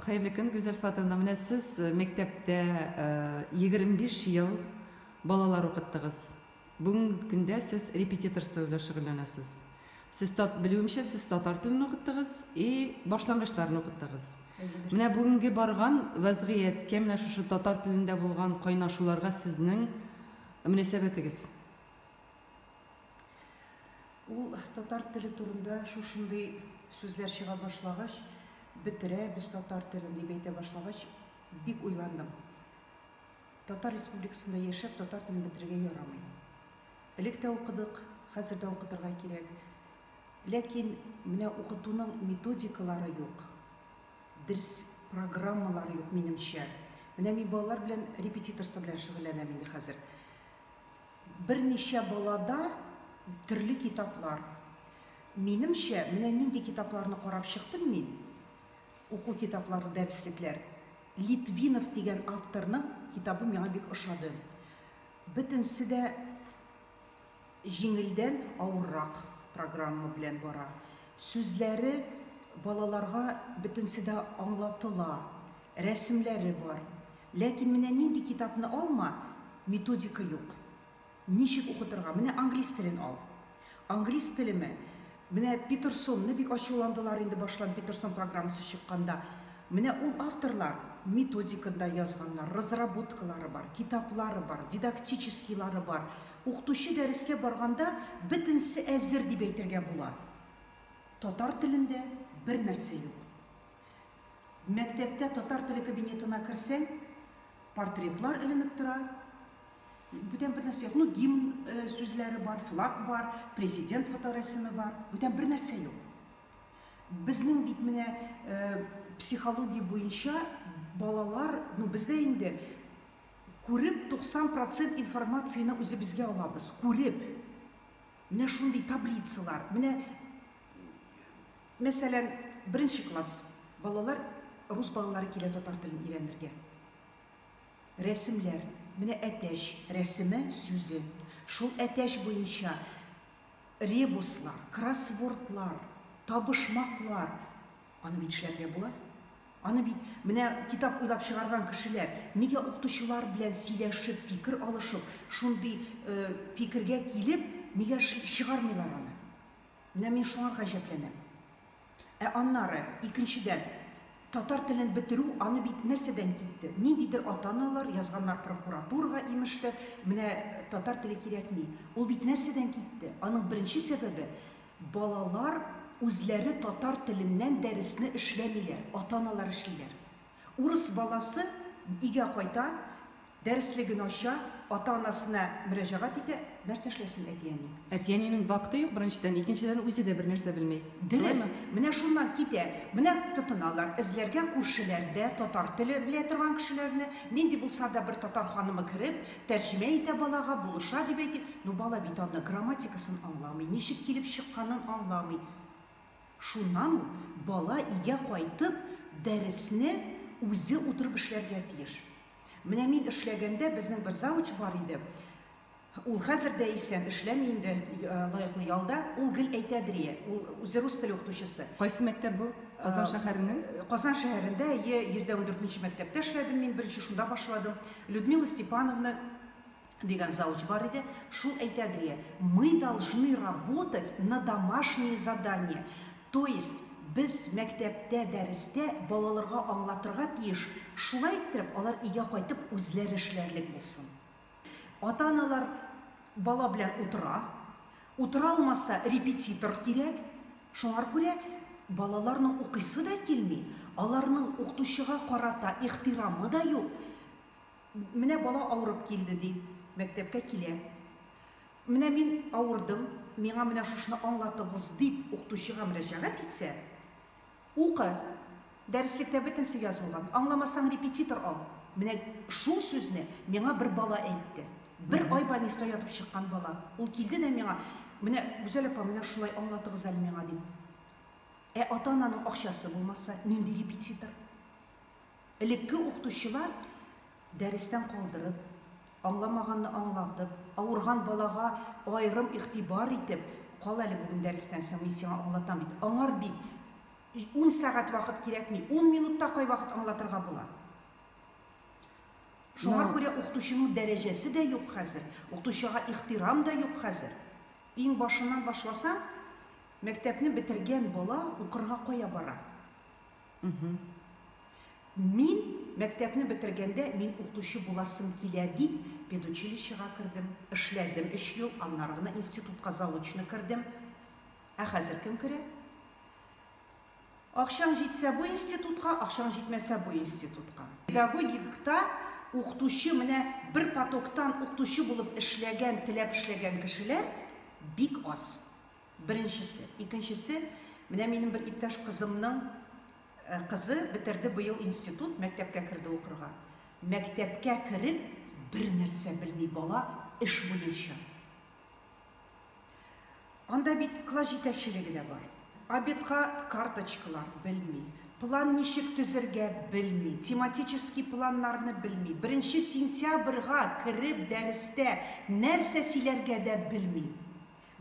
Хәерле көн, Гүзәл Фатовна. Менә сез мәктәптә егерме биш ел балалар укыттыгыз. Бүгенге көндә сез репетиторство белән шөгыльләнәсез. Сез тат, белүемчә, сез татар телен укыттыгыз и башлангычларны укыттыгыз. Менә бүгенге барган вәзгыятькә, менә шушы татар телендә булган кайнашуларга сезнең мөнәсәбәтегез? Ул татар теле турында шушындый сүзләр чыга башлагач, бетерәбез татар телен дип әйтә башлагач, бик уйландым. Татар республикасында яшәп татар телен бетерергә ярамый. Элек тә укыдык, хәзер дә укытырга кирәк. Ләкин менә укытуның методикалары юк. Дерс программалары юк, минемчә. Менә мин балалар белән репетиторство белән шөгыльләнәм инде хәзер. Берничә балада төрле китаплар. Минемчә, менә нинди китапларны карап чыктым мин, уку китаплары, дәреслекләр. Литвинов дигән авторның китабы миңа бик ошады. Бөтенесе дә җиңелдән авыррак программа белән бара. Сүзләре балаларга бөтенесе дә аңлатыла, рәсемләре бар. Ләкин менә нинди китапны алма, методика юк. Ничек укытырга? Менә англис телен ал. Англис телеме? Менә Питерсонны бик ачуландылар инде баштан Питерсон программасы чыкканда. Менә ул авторлар методиканы да язганнар, разработкалары бар, китаплары бар, дидактическийлары бар. Укытучы дәрескә барганда бөтенесе әзер дип әйтергә була. Татар телендә бернәрсә юк. Мәктәптә татар теле кабинетына керсәң, портретлар эленеп тора. Бүтән бер нәрсә юк. Ну, гимн сүзләре бар, флаг бар, президент фоторәсеме бар. Бүтән бер нәрсә юк. Безнең бит менә психология буенча балалар, ну, бездә инде күреп 90% информацияне үзебезгә алабыз, күреп. Менә шундый таблицалар, менә Мәсәлән, беренче класс балалар рус балалары килә татар телен өйрәнергә. Рәсемләр, менә әтәч рәсеме, сүзе, шул әтәч буенча ребуслар, кроссвордлар, табышмаклар, аны бит эшләргә була. Аны бит менә китап уйлап чыгарган кешеләр, нигә укытучылар белән сөйләшеп, фикер алышып, шундый фикергә килеп, нигә чыгармыйлар аны? Менә мин шуңа гаҗәпләнәм. Ә аннары, икенчедән, татар телен бетерү, аны бит нәрсәдән китте? Ниндидер ата-аналар язганнар прокуратурага, имеш тә, менә татар теле кирәкми. Ул бит нәрсәдән китте? Аның беренче сәбәбе, балалар үзләре татар теленнән дәресне эшләмиләр, ата-аналар эшлиләр. Урыс баласы өйгә кайта, дәреслеген ача, ата-анасына мөрәҗәгать итә, нәрсә эшләсен әти-әни? Әти-әнинең вакыты юк, беренчедән, икенчедән, үзе дә бернәрсә белми. Дөрес, менә шуннан китә. Менә тотыналар эзләргә күршеләрдә татар теле белә торган кешеләрне, нинди булса да бер татар ханымы кереп, тәрҗемә итә балага, булыша дип әйтик. Ну, бала бит аны, грамматикасын аңламый, ничек килеп чыкканын аңламый. Шуннан ул бала өйгә кайтып, дәресне үзе утырып эшләргә тиеш. Менә мин эшләгәндә безнең бер завуч бар иде. Ул хәзер дә исән, эшләми инде лаеклы ялда. Ул гел әйтәдерие, ул үзе рус теле укытучысы. Кайсы мәктәп бу? Казан шәһәренең? Казан шәһәрендә, әйе, 104 нче мәктәптә эшләдем мин, беренче шунда башладым. Людмила Степановна Дигән завуч бар иде, шул әйтә дрие, Мы должны работать на домашние задания, то есть без мәктәптә дәрестә балалырга аңлатырга тиеш, шулай иттереп алар өйгә кайтып үзләре эшләрлек булсын. Ата-аналар бала белән утыра, утыра алмаса репетитор кирәк, шуңар күрә балаларның укыйсы да килми, аларның укытучыга карата ихтирамы да юк, Менә бала авырып килде, ди, мәктәпкә килә. Менә мин авырдым, миңа менә шушыны аңлатыгыз, дип укытучыга мөрәҗәгать итсә, Укы, дәреслектә бөтенесе язылган, аңламасаң репетитор ал. Менә шул сүзне миңа бер бала әйтте. Бер ай больниста ятып чыккан бала. Ул килде дә миңа, Менә, Гүзәл апа, менә шулай аңлатыгыз әле миңа, дип. Ә ата-ананың акчасы булмаса, нинди репетитор? Элекке укытучылар дәрестән калдырып, аңламаганны аңлатып, авырган балага аерым игътибар итеп, Кал әле бүген дәрестән соң, мин сиңа аңлатам бит. Аңар бит ун сәгать вакыт кирәкми, ун минутта кайвакыт аңлатырга була. Шуңар күрә укытучының дәрәҗәсе дә юк хәзер, укытучыга ихтирам да юк хәзер. Иң башыннан башласаң, мәктәпне бетергән бала укырга кая бара? Мхм. Мин мәктәпне бетергәндә мин укытучы буласым килә дип педучилищега кердем, эшләдем өч ел, аннары гына институтка заочно кердем. Ә хәзер кем керә? Акчаң җитсә бу институтка, акчаң җитмәсә бу институтка. Педагогикта укытучы менә бер потоктан укытучы булып эшләгән, теләп эшләгән кешеләр бик аз. Беренчесе. Икенчесе, менә минем бер иптәш кызымның кызы бетерде быел институт, мәктәпкә керде укырга. Мәктәпкә кереп, бернәрсә белми бала эш буенча. Анда бит класс җитәкчелеге дә бар. Обедка карточкалар белми, план ничек төзергә белми, тематический планнарны белми, беренче сентябрьга кереп дәрестә нәрсә сөйләргә дә белми.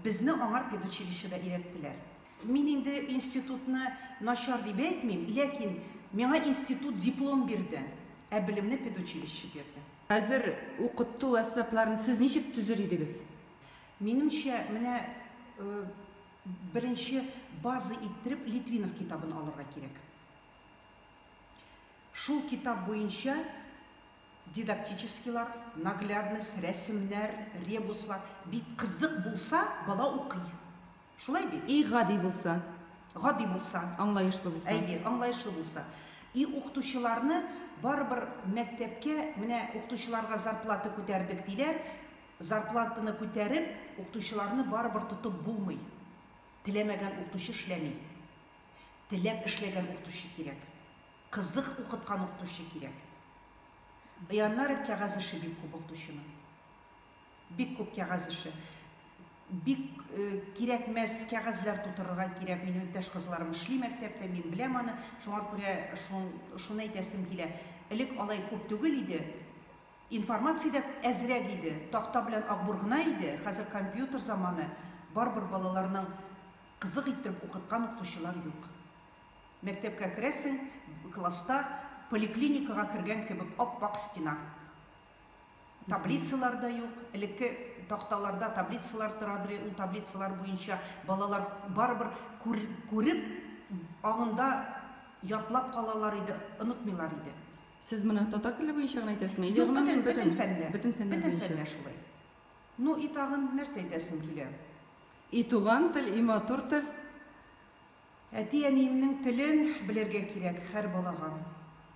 Безне аңар педучилищеда өйрәттеләр. Мин инде институтны начар дип әйтмим, ләкин миңа институт диплом бирде, ә белемне педучилище бирде. Хәзер укыту әсбапларын сез ничек төзер идегез? Минемчә, менә беренче база иттереп Литвинов китабын алырга кирәк. Шул китап буенча Дидактическийлар, наглядность, рәсемнәр, ребуслар бик кызык булса, бала укый. Шулай бит? И гади булса. Гади булса. Аңлаешлы булса. Әйе, аңлаешлы булса. И укытучыларны барыбер мәктәпкә менә укытучыларга зарплата күтәрдек диләр, зарплатаны күтәреп, укытучыларны барыбер тотып булмый. Теләмәгән укытучы эшләми. Теләп эшләгән укытучы кирәк. Кызык укыткан укытучы кирәк. Яннары кәгазь эше бик күп укытучының. Бик күп кәгазь эше. Бик кирәкмәс кәгазьләр тутырырга кирәк. Минем иптәш кызларым эшли мәктәптә, мин беләм аны. Шуңа күрә шуны әйтәсем килә. Элек алай күп түгел иде. Информация дә әзрәк иде. Такта белән акбур гына иде. Хәзер компьютер заманы. Барыбер балаларның кызык иттереп укыткан укытучылар юк. Мәктәпкә керәсең, класста поликлиникага кергән кебек ап-ак стена. Таблицалар да юк, элекке такталарда таблицалар торадыр, ул таблицалар буенча балалар барыбер күреп, аңында ятлап калалар иде, онытмыйлар иде. Сез моны татар теле буенча гына әйтәсезме? Юк, бөтен, бөтен фәндә. Бөтен фәндә буенча. Бөтен фәндә шулай. Ну и тагын нәрсә әйтәсем килә? И туган тел, и матур тел. Әти-әниемнең телен белергә кирәк хәр балага.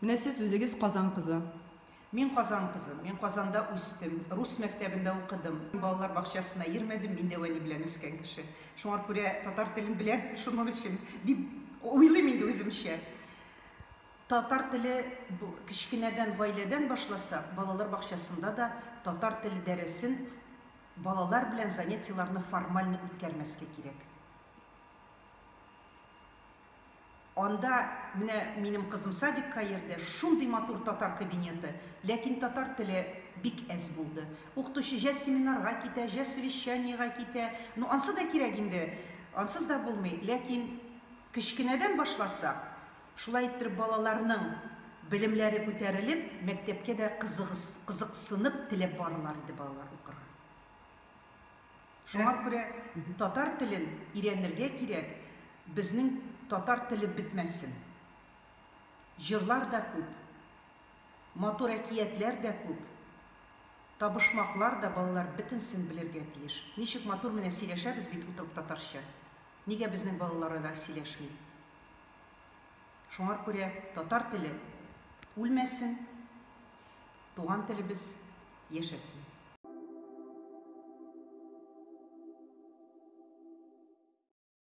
Менә сез үзегез Казан кызы. Мин Казан кызы. Мин Казанда үстем. Рус мәктәбендә укыдым. Балалар бакчасына йөрмәдем, мин дәү әни белән үскән кеше. Шуңар күрә татар телен беләм, шуның өчен дип уйлыйм инде үземчә. Татар теле бу кечкенәдән гаиләдән башласак, балалар бакчасында да татар теле дәресен, балалар белән занятиеларны формально үткәрмәскә кирәк. Анда менә минем кызым садикка йөрде, шундый матур татар кабинеты, ләкин татар теле бик әз булды. Укытучы җә семинарга китә, җә совещаниегә китә. Ну, ансы да кирәк инде, ансыз да булмый. Ләкин кечкенәдән башласак, шулай иттереп балаларның белемләре күтәрелеп, мәктәпкә дә кызыксынып, теләп барырлар иде балалар укырга. Шуңа күрә татар телен ирәнергә кирәк, безнең татар теле бетмәсен. Җырлар да күп, матур әкиятләр дә күп, табышмаклар да, балалар бетенсен белергә тиеш. Ничек матур менә сөйләшәбез бит утырып татарча. Нигә безнең балалары да сөйләшми? Шуңар күрә татар теле үлмәсен. Туган телебез яшәсен!